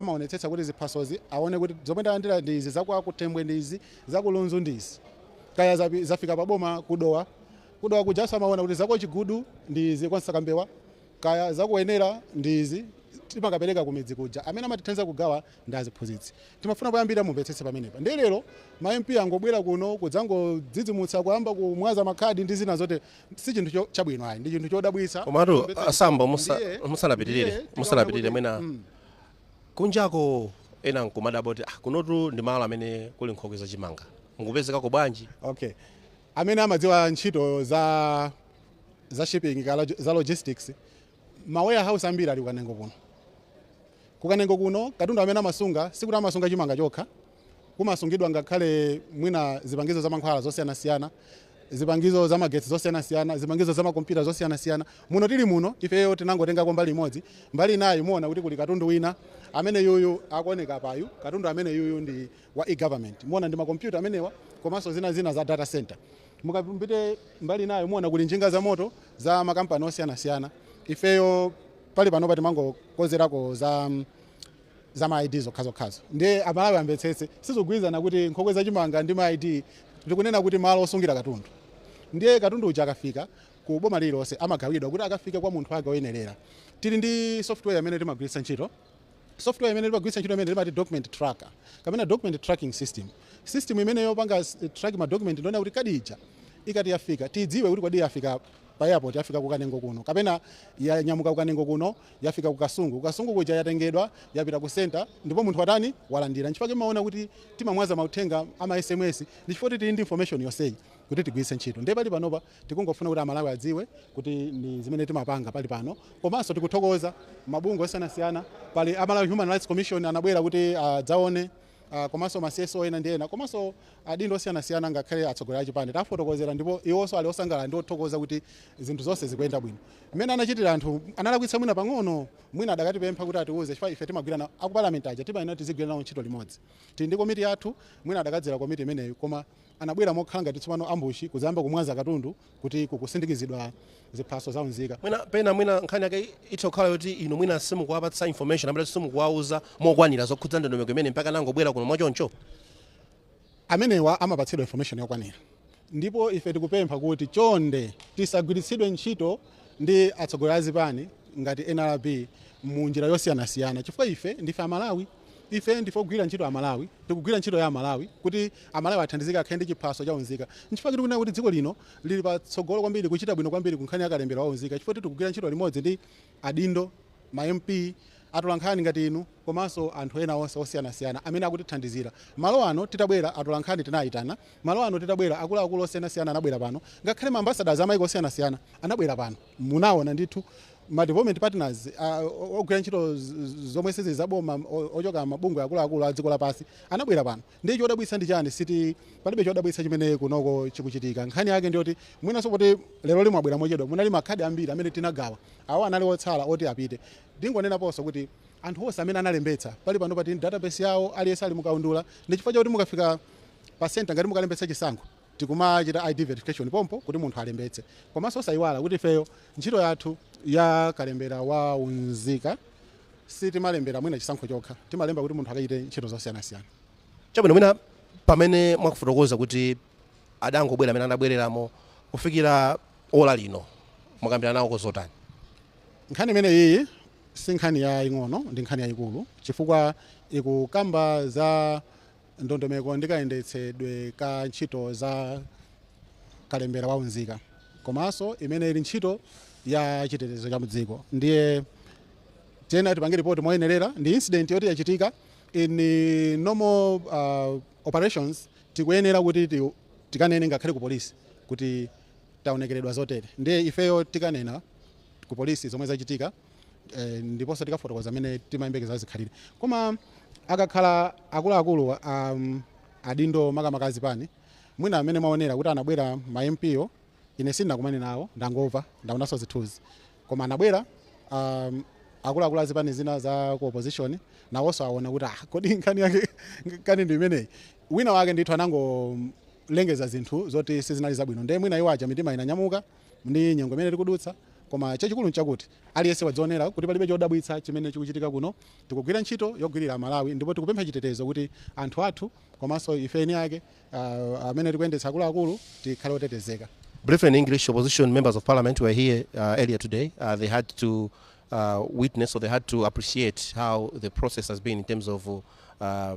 Amaonetsetsa kuti ziphasozi aone kuti zomwe ndalandira ndi izi, za kwa Kutembwe ndi izi, za ku Lunzu ndi izi. Kaya zapi, zafika pa boma ku Dowa, ku Dowa kujanso amaona kuti za kwa Chigudu ndi izi, kwa Msakambewa, kaya za ku Wenela ndi izi. Timakapereka kumidzi kuja. Amene amatithandiza kugawa ndi aziphunzitsi. Timafuna poyambirira mumvetsetse pamenepa. Ndiye lero ma MP angobwera kuno kudzangodzidzimutsa, kuyamba kumwaza makhadi ndi zina zotere. Si chinthu cho, chabwino ayi, ndi chinthu chodabwitsa, komanso chomvetsa chisoni. Ndiye, ndiye tikaona kuti, mm, Komatu a Sambo musa, musanapitirire musanapitirire mwina Kunjako ena nkumadabwa kuti ah kunotu ndi malo amene kuli nkhokwe za chimanga. Mukupezekako bwanji? Okay. Amene amadziwa ntchito za za shipping kaya za logistics ma warehouse ambiri ali ku Kanengo kuno. Ku Kanengo kuno katundu amene amasunga sikuti amasunga chimanga chokha kumasungidwa ngakhale mwina zipangizo za mankhwala zosiyanasiyana zipangizo za magetsi zosiyanasiyana zipangizo za makompyuta zosiyanasiyana muno tili muno ifeyo tinangotengako mbali imodzi mbali inayi muona kuti kuli katundu wina amene uyu akuoneka apayu katundu amene uyu ndi wa e-government muona ndi makompyuta amenewa komanso zina zina za data center mukapita mbali inayo muona kuli njinga za moto za makampani osiyanasiyana ifeyo pali panopa timangokozerako za mm, za ma ID zokhazokhazo ndiye amalawi amvetsetse sizogwirizana kuti nkhokwe za chimanga ndi ma ID ndi kunena kuti malo osungira katundu ndiye katundu uja akafika ku boma lililonse amagawidwa kuti akafike kwa munthu wake oyenerera tili ndi software imene timagwiritsa ntchito software imene timagwiritsa ntchito imene timati document tracker kapena document tracking system system imene yopanga s- track ma document ndiyonena kuti kadi ija ikati yafika tidziwe kuti kodi yafika pa airport yafika ku Kanengo kuno kapena yanyamuka ku Kanengo kuno yafika ku Kasungu. Ku Kasungu kuja yatengedwa yapita ku centre ndipo munthu watani? Walandira. N'chifukwa chake mumaona kuti timamwaza mauthenga a ma sms ndi chifukwa kuti tili ndi information yonseyi kuti tigwiritse ntchito. Ndiye pali panopa tikungofuna kuti Amalawi adziwe kuti ndi zimene timapanga pali pano. Komanso tikuthokoza mabungwe osiyanasiyana. Pali a Malawi Human Rights Commission anabwera kuti adzaone ah, komanso ma CSO ena ndi ena komanso adindo osiyanasiyana ngakhale atsogoleri achipani tafotokozera ndipo iwonso ali osangalala ndi othokoza kuti zinthu zonse zikuyenda bwino mmene anachitira anthu analakwitsa mwina pang'ono mwina adakatipempha kuti atiuze chifukwa ife timagwira nawo a ku palamenti aja timayenera tizigwira nawo ntchito limodzi tili ndi komiti yathu mwina adakadzera komiti imeneyo koma anabwera mokhala ngati tsopano ambushi kudzayamba kumwaza katundu kuti kukusindikizidwa ziphaso za unzika. mwina pena mwina nkhani yake itha kukhala yoti inu mwina simukuwapatsa information a Sambo simukuwauza mokwanira zokhudza ndi ndondomeko imene mpaka anangobwera kuno mwachoncho amenewa amapatsidwa information yokwanira ndipo ife tikupempha kuti chonde tisagwiritsidwe ntchito ndi atsogoleri azipani ngati nrb mu njira yosiyanasiyana chifukwa ife ndife amalawi Ife ndife ogwira ntchito a Malawi, tikugwira ntchito ya a Malawi kuti a Malawi athandizike akhale ndi chiphaso cha unzika. Nchifukwa chake tikunena kuti dziko lino lili pa tsogolo kwambiri, kuchita bwino kwambiri ku nkhani ya kalembera wa unzika chifukwa tikugwira ntchito limodzi ndi adindo, ma MP, atolankhani ngati inu komanso anthu ena onse osiyanasiyana amene akutithandizira. Malo ano titabwera atolankhani tinawayitana, malo ano titabwera akuluakulu osiyanasiyana anabwera pano, ngakhale ma ambassadors a maiko osiyanasiyana anabwera pano. Munawona ndithu. ma development partners a- o- ogwira ntchito z- z- zomwe sizili za boma o- ochoka mabungwe akuluakulu a dziko lapansi anabwera pano ndi chodabwitsa ndi chani si uti palibe chodabwitsa chimene kunoko chikuchitika nkhani yake ndiyoti mwinanso kuti lero lino abwera mochedwa munali makhadi ambiri amene tinagawa awo anali otsala oti apite ndingonenaponso kuti anthu onse amene analembetsa pali pano pati database yawo aliyense ali mukaundula ndi chifukwa chakuti mukafika pasenta ngati mukalembetsa chisankho tikumachita ID verification pompo kuti munthu alembetse komanso osayiwala kuti ifeyo ntchito yathu ya kalembera wa unzika sitimalembera chisankho chokha timalemba kuti munthu akachite ntchito zosiyanasiyana. Chabwino mwina pamene mukufotokoza kuti adangobwera amene anabwerawo kufikira ola lino mwakambirana nawo ko zotani? Nkhani imene iyi si nkhani yaing'ono ndi nkhani yayikulu chifukwa ikukamba za ndondomeko ndi kayendetsedwe ka ntchito za kalembera wa unzika komanso imene ili ntchito ya chitetezo cha mdziko ndiye tiyenera tipange ripoti moyenerera ndi incident yoti yachitika in eh, normal uh, operations tikuyenera kuti ti- tikanene ngakhale ku polisi kuti taonekeredwa zotere ndiye ifeyo tikanena ku polisi zomwe zachitika eh, ndiponso tikafotokoza mmene timayembekezera zikhalire koma akakhala akuluakulu um, adindo makamaka azipani mwina amene mwaonera kuti anabwera ma MP-wo ine sindinakumane nawo ndangomva ndaonanso zithunzi koma anabwera um, akuluakulu azipani zina za ku opposition nawonso aona kuti ah, kodi nkhani yake kani ndi imeneyi wina wake ndithu anangolengeza zinthu zoti sizinali zabwino ndiye mwina iwo aja mitima inanyamuka ndi nyengo imene tikudutsa, koma chachikulu nchakuti aliyense wadzionera kuti palibe chodabwitsa chimene chikuchitika kuno. Tikugwira ntchito yogwirira Amalawi ndipo tikupempha chitetezo kuti anthu athu komanso ife eni ake uh, amene tikuyendetsa akuluakulu tikhale otetezeka. Briefly in English, opposition members of parliament were here uh, earlier today. Uh, they had to uh, witness or they had to appreciate how the process has been in terms of uh,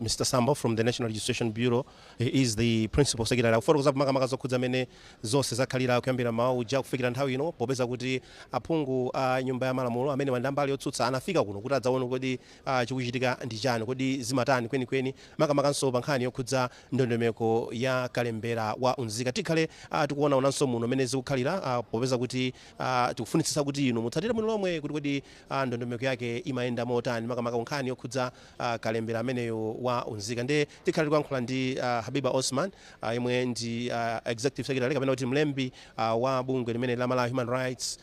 mr sambo from the national registration bureau he is the principal secretary akufotokoza makamaka zokhudza mmene zonse zakhalira kuyambira mmawa uja kufikira nthawi ino popeza kuti aphungu a nyumba ya malamulo amene ali a mbali yotsutsa anafika kuno kuti adzaone kodi uh, chikuchitika ndi chani kodi zimatani kwenikweni makamakanso pa nkhani yokhudza ndondomeko ya kalembera wa unzika tikhale uh, tikuonaonanso muno mmene zikukhalira uh, popeza kuti uh, tikufunitsitsa kuti inu mutsatire muno lomwe kuti kodi uh, ndondomeko yake imayenda motani makamaka nkhani yokhudza a kalembera ameneyu wa unzika ndi tikhala tikuyankhula ndi habiba osman yemwe ndi executive secretary kapena kuti mlembi wa bungwe limeneli la malawi human rights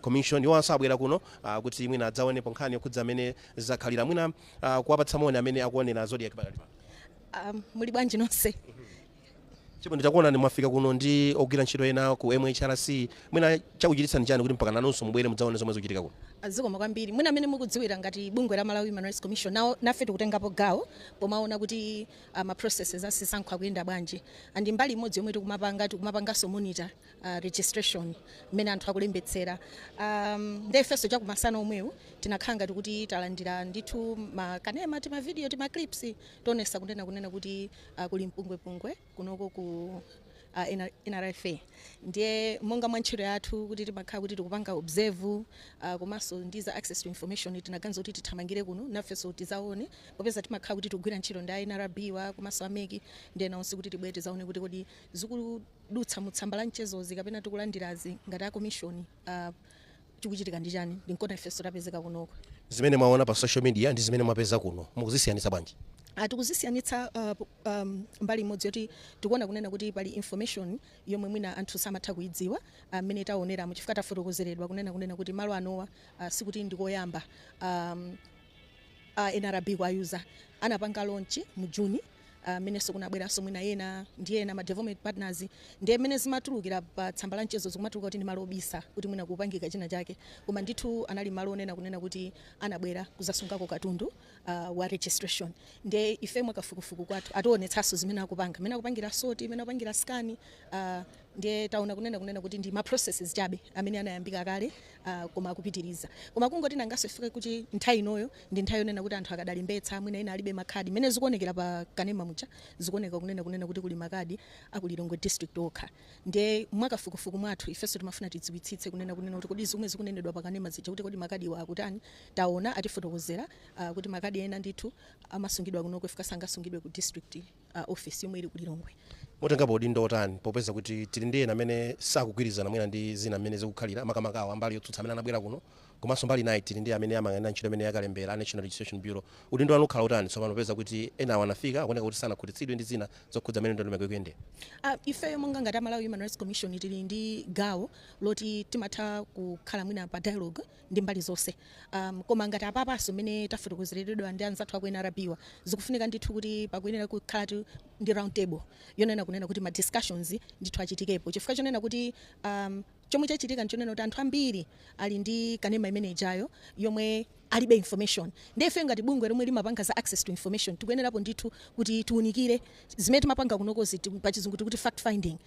commission iwanso abwera kuno kuti mwina adzaonepo nkhani yokhudza amene zakhalira mwina kuwapatsa moni amene akuonera zodiak pakali pano Um, muli bwanji nonse Chabwino, takuonani mwafika kuno ndi ogwira ntchito ena ku MHRC. Mwina chakuchititsani chani kuti mpaka nanunso mubwere mudzaone zomwe zikuchitika kuno? Zikomo kwambiri. Mwina mmene mukudziwira ngati bungwe la Malawi Human Rights Commission, nawo, nafe tikutengapo gawo pomaona kuti uh, ma processes a zisankho akuyenda bwanji and mbali imodzi yomwe tikumapanga tikumapanganso monitor uh, registration mmene anthu akulembetsera um, nde ifenso chakumasana komweku tinakhala ngati kuti talandira ndithu makanema timavidiyo timaclips toonetsa kunena kunena kuti uh, kuli mpungwepungwe kunoko ku uh, NR nrfa ndiye monga mwa ntchito yathu kuti timakhala kuti tikupanga observe uh, komanso ndi za access to information tinaganiza kuti tithamangire kuno nafenso tizaone popeza timakhala kuti tikugwira ntchito ndi a nrb wa komanso a mec ndi ena onse kuti tibwere tizaone kuti kodi zikudutsa mu tsamba la mchezozi kapena tikulandirazi ngati a commission Uh, chikuchitika ndi chani ndi nkona ifenso tapezeka kunoko zimene mwaona pa social media ndi zimene mwapeza kuno mukuzisiyanitsa bwanji ah, tikuzisiyanitsa uh, um, mbali imodzi yoti tikuona kunena kuti pali information yomwe mwina anthu samatha kuidziwa ah, mmene uh, taoneramo chifukwa tafotokozeredwa kunena kunena kuti malo anowa uh, sikuti ndikoyamba um, uh, nrb kuwa user anapanga launch mu juni ah, mmenenso kunabweranso mwina ena ndi ena ma development partners ndiye mmene zimatulukira pa tsamba la mchezo zikumatuluka kuti ndi malo obisa kuti mwina kupangika china chake koma ndithu anali malo onena kunena kuti anabwera kuzasungako katundu ah, wa registration ndiye ife mwakafukufuku kwathu ationetsanso zimene akupanga mmene akupangira sort mmene akupangira scan ah, ndiye taona kunena kunena kuti ndi ma processes chabe amene anayambika kale ah, koma akupitiriza koma kungoti nangaso ifike kuti nthawi inoyo Ndi nthawi yonena kuti anthu akadalembetsa, mwina ena alibe makadi. Mmene zikuonekera pa kanema muja, zikuoneka kunena kunena kuti kuli makadi a ku Lilongwe district okha. Ndiye mwa kafukufuku mwathu, ifenso timafuna tidziwitsitse kunena kunena kuti kodi zomwe zikunenedwa pa kanema zija kuti kodi makadiwa akutani. Taona, atifotokozera, ah, kuti makadi ena ndithu amasungidwa kunoko chifukwa sangasungidwe ku district. ofesi yomwe ili ku Lilongwe. mutengapo udindo otani popeza kuti tili ndi ena amene sakugwirizana mwina ndi zina mmene zikukhalira makamaka awo ambali yotsutsa amene anabwera kuno komanso mbali nayi tili ndi amene amayang'anira ntchito imeneyi yakalembera National Registration Bureau udindo wanu ukhala utani tsopano popeza kuti ena awo anafika akuoneka kuti sanakhutitsidwe ndi zina zokhudza mmene ndondomeko ikuyendera Uh, ifeyo monga ngati a Malawi Human Rights Commission tili ndi gawo loti timatha kukhala mwina pa dialogue ndi mbali zonse um, koma ngati apapanso mmene tafotokozeredwa ndi anzathu aku nrb zikufunika ndithu kuti pakuyenera kukhala tu- ndi round table yonena kunena kuti ma discussions ndithu achitikepo chifukwa chonena kuti um, chomwe chachitika nchonena kuti anthu ambiri ali ndi kanema imene ijayo yomwe alibe information ndiye ife ngati bungwe lomwe limapanga za access to information tikuyenerapo ndithu kuti tiunikire zimene timapanga kunokozi ti- pachizungu tikuti fact finding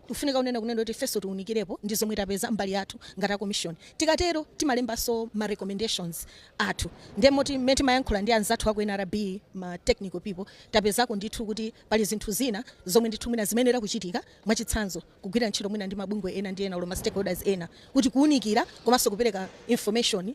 Kufunika kunena kunena kuti ifenso tiunikirepo ndi zomwe tapeza mbali yathu ngati a komishoni. Tikatero timalembanso ma recommendations athu ndiye moti mmene timayankhula ndi anzathu aku nrb ma technical people tapezako ndithu kuti pali zinthu zina zomwe ndithu mwina zimayenera kuchitika mwachitsanzo kugwira ntchito mwina ndi mabungwe ena ndi ena olo ma stakeholders ena kuti kuunikira komanso kupereka information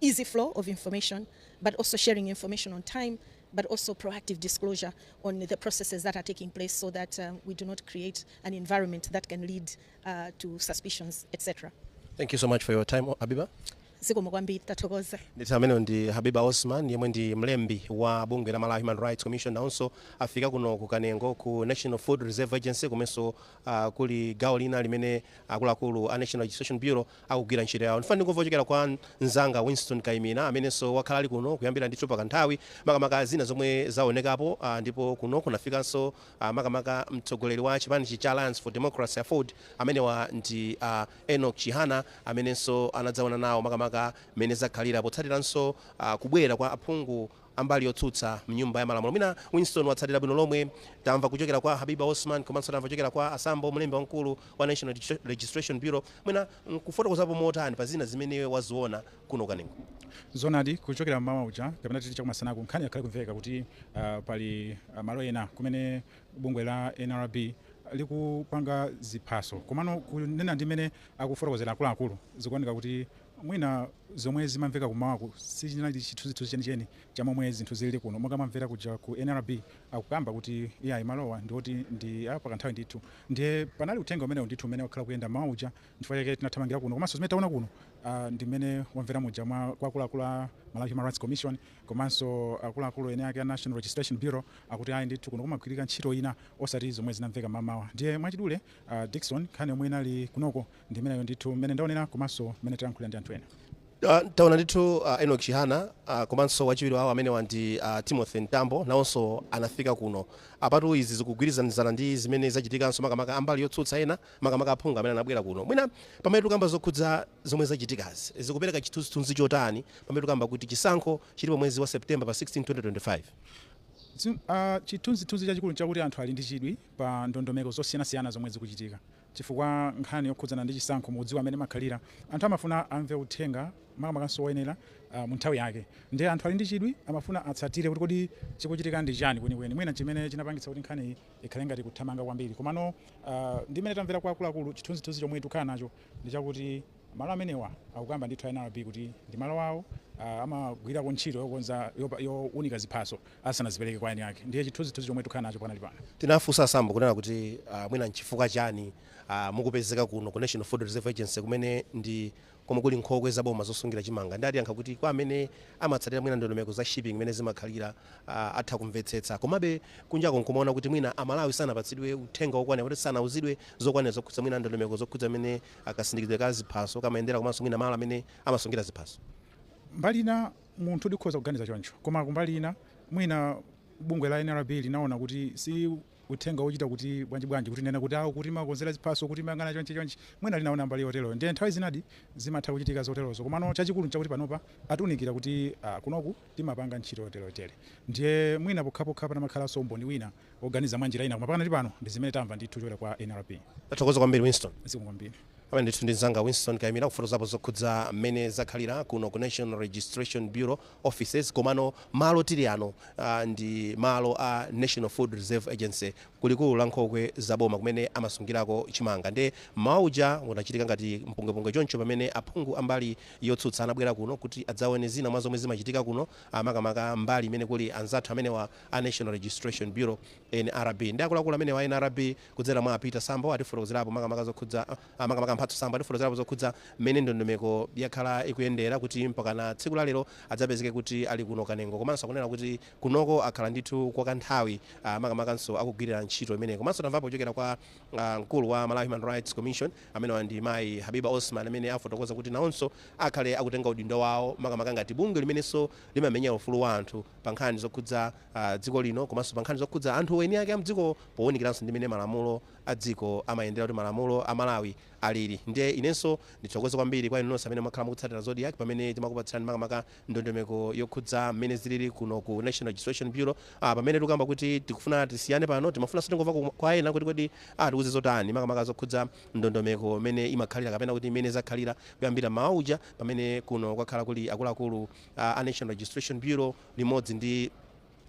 easy flow of information but also sharing information on time but also proactive disclosure on the processes that are taking place so that um, we do not create an environment that can lead uh, to suspicions, etc. Thank you so much for your time, Habiba. zikomo kwambiri tathokoza ndithu ameneyo ndi habiba osman yemwe ndi mlembi wa bungwe la malawi human rights commission nawonso afika kuno ku kanengo ku national food reserve agency komanso uh, kuli gawo lina limene akuluakulu a national registration bureau akugwira ntchito yawo. Ndifuna ndingomva kuchokera kwa mzanga Winston Kaimira amenenso wakhala ali kuno kuyambira ndithu pakanthawi, makamaka zina zomwe zaonekapo, a, ndipo kuno kunafikanso a, makamaka mtsogoleri wa chipanichi cha Alliance for Democracy, aford, amenewa ndi a Enoch Chihana amenenso anadzaona nawo makamaka mmene zakhalira potsatiranso a, kubwera kwa aphungu ambali yotsutsa mnyumba yamalamulo mwina Winston watsatira bwino lomwe tamva kuchokera kwa Habiba Osman komanso tamva kuchokera kwa a Sambo mlembi wamkulu wa National Registration Bureau mwina nkufotokozapo motani pa zina zimene iwe waziona kuno ku Kanengo? Zoonadi kuchokera mmawa uja kapena titi chakumasanaku nkhani yakhala ikumveka kuti uh, pali uh, malo ena kumene bungwe la NRB likupanga ziphaso komano kunena ndi mmene akufotokozera akuluakulu zikuoneka kuti Mwina zomwe zimamveka kummawaku sichinali chithunzithunzi chenicheni cha momwe zinthu zilili kuno monga wamvera kuja ku nrb akukamba kuti iyayi malowa ndiwoti ndi a pakanthawi ndithu ndiye panali uthenga umenewu ndithu umene wakhala ukuyenda mmawa uja nchifukwa chake tinathamangira kuno komanso zimene taona kuno ndi mmene wamvera muja kwa akuluakulu a Malawi Human Rights Commission komanso akuluakulu eni ake a National Registration Bureau akuti ayi ndithu kuno kumagwirika ntchito ina osati zomwe zinamveka mmamawa ndiye mwachidule Dickson nkhani yomwe inali kunoko Ndi imeneyo ndithu mmene ndaonera komanso mmene talankhulira ndi anthu ena. Ah, taona ndithu ah, Enoch Chihana ah, komanso wachiwiri wawo amenewa ndi ah, Timothy Mtambo nawonso anafika kuno apatu izi zikugwirizanizana ndi zimene zachitikanso makamaka ambali yotsutsa ena makamaka aphungu amene anabwera kuno mwina pamene tikamba zokhudza zomwe zachitikazi zikupereka chithunzithunzi chotani pamene tikamba kuti chisankho chilipo mwezi wa September pa 16 2025 Tsi- ah, chithunzithunzi chachikulu nchakuti anthu ali ndi chidwi pa ndondomeko zosiyanasiyana zomwe zikuchitika chifukwa nkhani yokhudzana ndi chisankho mukudziwa mmene imakhalira, anthu amafuna amve uthenga makamakanso woyenera mu nthawi yake nde anthu ali ndi chidwi amafuna atsatire kuti kodi chikuchitika ndi chani kwenikweni, mwina nchimene chinapangitsa kuti nkhaniyi ikhale ngati ikuthamanga kwambiri komano ndi mmene tamvera kwa akuluakulu chithunzithunzi chomwe tikukhala nacho ndi chakuti Malo amenewa akukamba ndithu a nrb kuti ndi malo awo amagwirako ntchito yokonza younika ziphaso asanazipereke kwa eni ake ndiye chithunzithunzi chomwe tikukhala nacho pakanali pano. Tinafunsa a Sambo kunena kuti mwina nchifukwa chani mukupezeka kuno ku National Food Reserve Agency kumene ndi komwe kuli nkhokwe za boma zosungira chimanga ndiye atiyankha kuti kwa amene amatsatira mwina ndondomeko za shipping mmene zimakhalira atha kumvetsetsa komabe kunjako nkumaona kuti mwina a Malawi sanapatsidwe uthenga wokwanira kapena kuti sanauzidwe zokwanira zokhudza mwina ndondomeko zokhudza mmene a Kasindikidwe ka ziphaso kamayendera komanso mwina malo amene amasungira ziphaso? Mbali ina munthu tikhoza kuganiza choncho, koma kumbali ina mwina bungwe la nrb linaona kuti si uthenga wochita kuti bwanji bwanji kutinena kuti awo kuti timakonzera ziphaso kuti timayang'ana chonchi chonchi mwina linaona mbali yoteroyo ndiye nthawi zinadi zimatha kuchitika zoterozo komano chachikulu nchakuti panopa atiunikira kuti ah, kunoku timapanga ntchito yoterotere ndiye mwina pokhapokha panamakhalanso umboni wina oganiza mwa njira ina koma pakanali pano ndi zimene tamva ndithu chochokera kwa nrb tathokoza kwambiri winston zikomo kwambiri amene ndithu ndi mzanga winston kayimira kufotokozapo zokhudza mmene zakhalira kuno ku national registration bureau offices komano malo tili ano uh, ndi malo a national food reserve agency kulikulu la nkhokwe za boma kumene amasungirako chimanga nde mmawa uja unachitika ngati mpungwepungwe choncho pamene aphungu ambali yotsutsa anabwera kuno kuti adzaone zina mwa zomwe zimachitika kuno ah, makamaka mbali imene kuli anzathu amenewa a National Registration Bureau, nrb, nde akuluakulu amenewa a nrb kudzera mwa a Peter Sambo atifotokozerapo makamaka zokhudza makamaka a Mphatso Sambo atifotokozerapo zokhudza mmene ndondomeko yakhala ikuyendera kuti mpakana tsiku la lero adzapezeke kuti ali kuno Kanengo komanso akunena kuti kunoko akhala ndithu kwa kanthawi makamakanso akugwirira ntchito imeneyi komanso tamvapo kuchokera kwa mkulu wa Malawi Human Rights Commission amenewa ndi mayi Habiba Osman amene afotokoza kuti nawonso akhale akutenga udindo wawo makamaka ngati bungwe limenenso limamenyera ufulu wa anthu pa nkhani zokhudza dziko lino komanso pa nkhani zokhudza anthu eni ake a m'dziko pounikiranso ndi mmene malamulo a dziko amayendera kuti malamulo a Malawi alili. Ndiye inenso ndithokoze kwambiri kwa inu nonse amene mwakhala mukutsatira Zodiak pamene timakupatsirani makamaka ndondomeko yokhudza mmene zilili kuno ku National Registration Bureau. Pamene tikukamba kuti tikufuna tisiyane pano, timafunanso tingomva kwa ena kuti kodi atiuze zotani makamaka zokhudza ndondomeko mmene imakhalira kapena kuti mmene zakhalira kuyambira mmawa uja pamene kuno kwakhala kuli akuluakulu a a National Registration Bureau limodzi ndi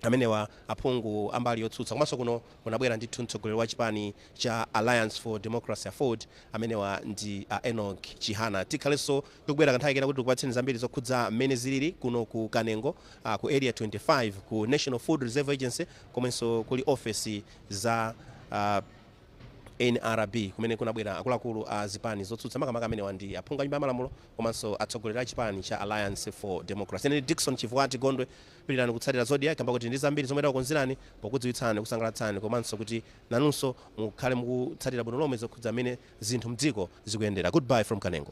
amenewa aphungu a mbali yotsutsa komanso kuno kunabwera ndithu mtsogoleri wa chipani cha Alliance for Democracy Aford amenewa ndi a Enoch Chihana tikhalenso tikubwera kanthawi kena kuti tikupatseni zambiri zokhudza mmene zilili kuno ku Kanengo ah, ku area 25 ku National Food Reserve Agency komwenso kuli ofesi za ah, Nrb, kumene kunabwera akuluakulu a zipani zotsutsa, makamaka amenewa ndi aphungu a Nyumba ya Malamulo komanso atsogoleri a chipani cha Alliance for Democracy. Ine ndi Dickson Chivuwati Gondwe. Pitirirani kutsatira Zodiak kamba koti tili ndi zambiri zomwe takukonzerani pokudziwitsani, kusangalatsani komanso kuti nanunso mukhale mukutsatira bwino lomwe zokhudza mmene zinthu m'dziko zikuyendera. Good bye from Kanengo.